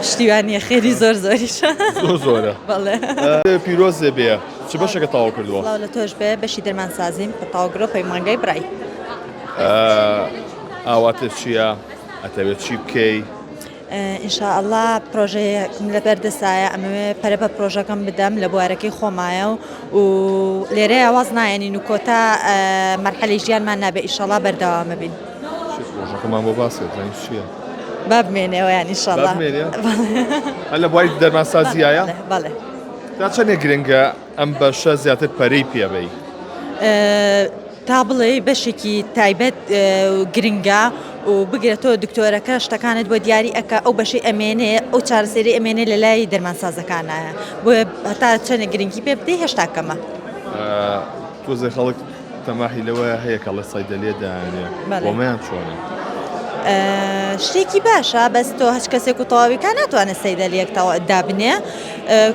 شتی وا نییە خێری زۆر زۆریشە زۆر زۆرە بەڵێ پیرۆز دێ بێ چ بەشەکە تاو کردووە سڵاو لە تۆش بێ بەشی دەرمانسازیم کە تاوگرۆ پەیمانگای برای ئاواتر چییە ئەتەوێت چی بکەی ئینشاءله پرۆژەیەکم لە بەردەسایە ئەمەوێ پەرە بە پرۆژەکەم بدەم لە بوارەکەی خۆمایە و و لێرە ئاواز نایەنین و کۆتا مەرحەلی ژیانمان نابێ ئیشەڵا بەردەوامە بین. چی پرۆژەکەمان بۆ باسکە دەزانی چییە؟ با بمێنێ ئەویان ئیشەڵا با بمێنێ؟ هەر لە بواری دەرمانسازیایە؟ بەڵێ بەڵێ تا چەندێک گرنگە ئەم بەشە زیاتر پەرەی پێبەی؟ تا بڵێ بەشێکی تایبەت اه، گرنگە و بگرە تۆ دکتۆرەکە شتەکانت بۆ دیاری ئەکا ئەو بەشەی ئەمێنێ ئەو چارەسەری ئەمێنێ لە لای دەرمانسازەکانایە بۆیە هەتا چەندێک گرنگی پێ بدەی هێشتا کەمە. تۆزێ خەڵک تەماحی لەوەیە هەیە کە ڵە سەیدەلیە دایانێ بەڵێ. بۆ چۆنە؟ شتێکی باشە بەس تۆ هەچ کەسێک و تەواویکە ناتوانێت سەیدەلیەک دابنێ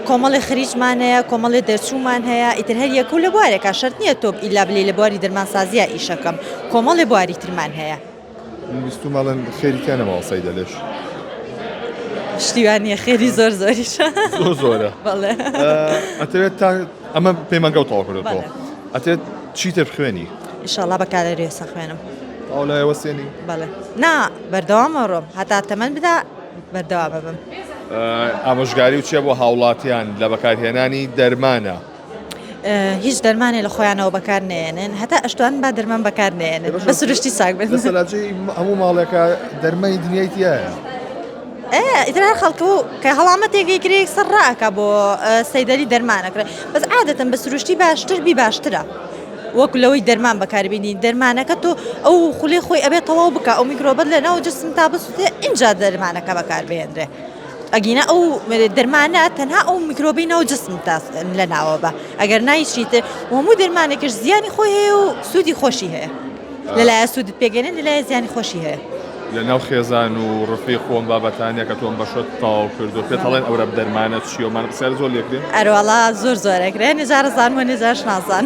کۆمەڵی خریجمان هەیە کۆمەڵی دەرچوومان هەیە ئیتر هەر یەکە و لە بوارێکا شەرت نییە تۆ ئیلا بلی لە بواری دەرمانسازیە ئیشەکەم کۆمەڵی بواری ترمان هەیە. من بیستوم ئەڵێن خێری تیا نەماوە سەیدە لێش. شتی وا نییە خێری زۆر زۆریشە زۆر زۆرە بەڵێ ئەتەوێت تا ئەمە پەیمانگەوت تەواو کردێتەوە بەڵێ. ئەتێت چی تر بخوێنی ئیشاڵا بە کالەریێسە خوێنم ئەو لای وەسێنی بەڵێ نا بەردەوامە ڕۆم هەتا تەمەن بدا بەردەوا ببم ئامۆژگاری و چیە بۆ هاوڵاتیان لە بەکارهێنانی دەرمانە هیچ دەرمانێ لە خۆیانەوە بەکار نەیەنێن هەتا ئەشتوان با دەرمان بەکار نێنن بە سروشتی ساک بن هەموو ماڵێکە دەرمای دنیای تایە. ئیتر هەر خەڵکە و کە هەڵامەتێکی کرێک سەر ڕاکە بۆ سەیدەری دەرمانەکرێت بەس عادەتەن بە سروشتی باشتر بی باشترە. وەک لەوەی دەرمان بەکاربیێنی دەرمانەکە تۆ ئەو خولێ خۆی ئەبێت تەواو بکە ئەو میکرۆبەت لە ناو جسم تا بسوێ اینجا دەرمانەکە بەکاربهێنرێ. ئەگینا ئەو دەرمانە تەنها ئەو میکرۆبی ناو جسم لە ناوە بە ئەگەر نایچیت وەمو دەرمانێکش زیانی خۆی هەیە و سوودی خۆشی هەیە لەلایە سوودت پێگەێن لەلایە زیانی خۆشی هەیە. لە ناو خێزان و ڕفی خۆم بابەتانە کە تۆم بەشت تاو کردو پێ تاڵێن ئەورە دەرمانە چیەمان پرسیار زۆر لێکرێن ئەرواڵا زۆر زۆرەکرێ نێزارزان و نێزارش نازان.